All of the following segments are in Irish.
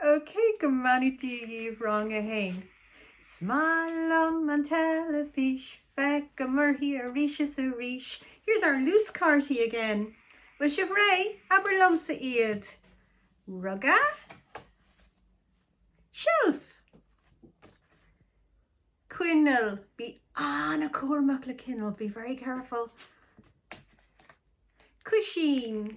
OK, go mbeannaí Dia dhíbh, Rang 1. Is maith liom an teilifís, Feicim uirthi arís is arís. Here's our luaschártaí again! Bhfuil sibh réidh? Abair liomsa iad! Ruga? Seilf? Coinneal? Bí an-cúramach le coinneal, be very careful. Cúisín?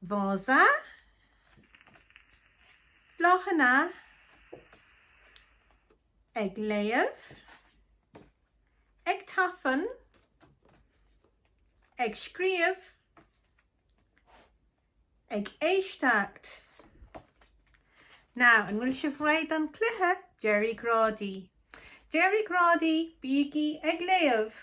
Vása, bláthanna, ag léamh, ag tafann, ag scríobh, ag éisteacht. Now, an bhfuil sibh réidh don cluiche? Deir Ó Grádaigh, deir Ó Grádaigh, bígí ag léamh!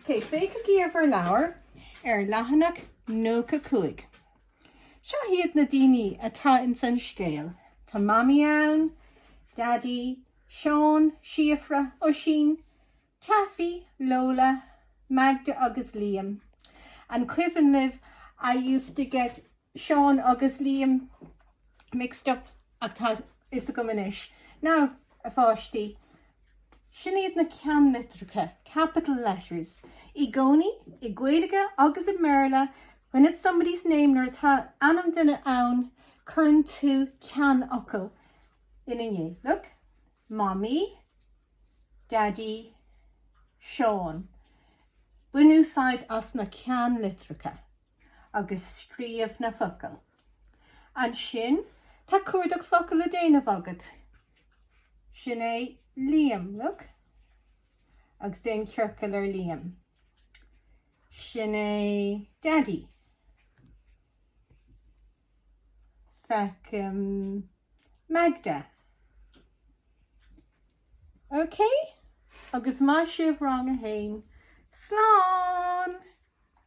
OK, féachaigí ar bhur leabhair ar leathanach 95. Seo hiad na daoine atá ins an scéal, tá Mamaí ann, Daidí, Seán, Síofra, Oisín, Tafaí, Lola, Magda agus Liam. An cuimhin libh I used to get Seán agus Liam mixed up ach tá fhios agam anois. Now, a pháistí, seo iad na ceannlitreacha, capital letters, i gcónaí, i Gaeilge agus i mBéarla, when it's somebody's name, nuair atá ainm duine ann, cuireann tú ceannfhocal ina ndiaidh. Look, Mamaí, Daidí, Seán. Bain úsáid as na ceannlitreacha. agus scríobh na focail. Ansin tá cuardach focal le déanamh agat. Sin é Liam, look. Agus déan ciorcal ar Liam. Sin é Daidí. Feicim Magda. OK? Agus maith sibh rang a haon. Slán!